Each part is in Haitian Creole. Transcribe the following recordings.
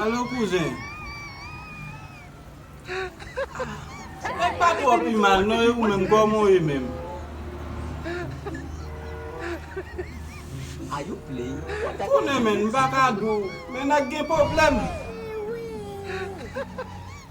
Alo kouzen Nèg pa twò pi mal non e ou menm kòman w ye menm? Konnen menn m pa ka di w men nèg gen pwoblèm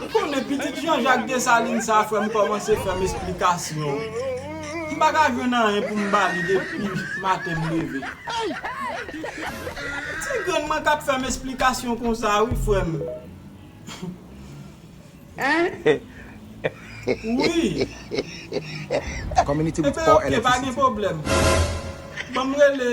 M konnen pitit Jean Jacques Dessalines sa frèm kòmanse fèm esplikasyon m paka jwenn anyen poum bali depi maten m leve ti grenn mwen kap fèm esplikasyon konsa wi frèm wi epe ok pa gen pwoblèm banm rele.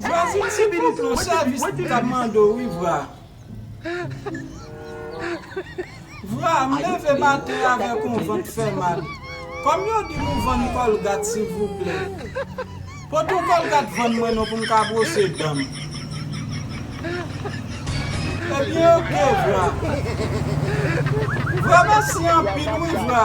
Jwazin se pitit Francois jis li ka mande w wi vra Vra m leve maten avèk yon vant fè mal Kòm yo di m ou vann kòlgat silvouplè Pot yon kòlgat vann mwen non pou m ka bwose dan m Ebyen ok vra Vra mèsi anpil wi vra.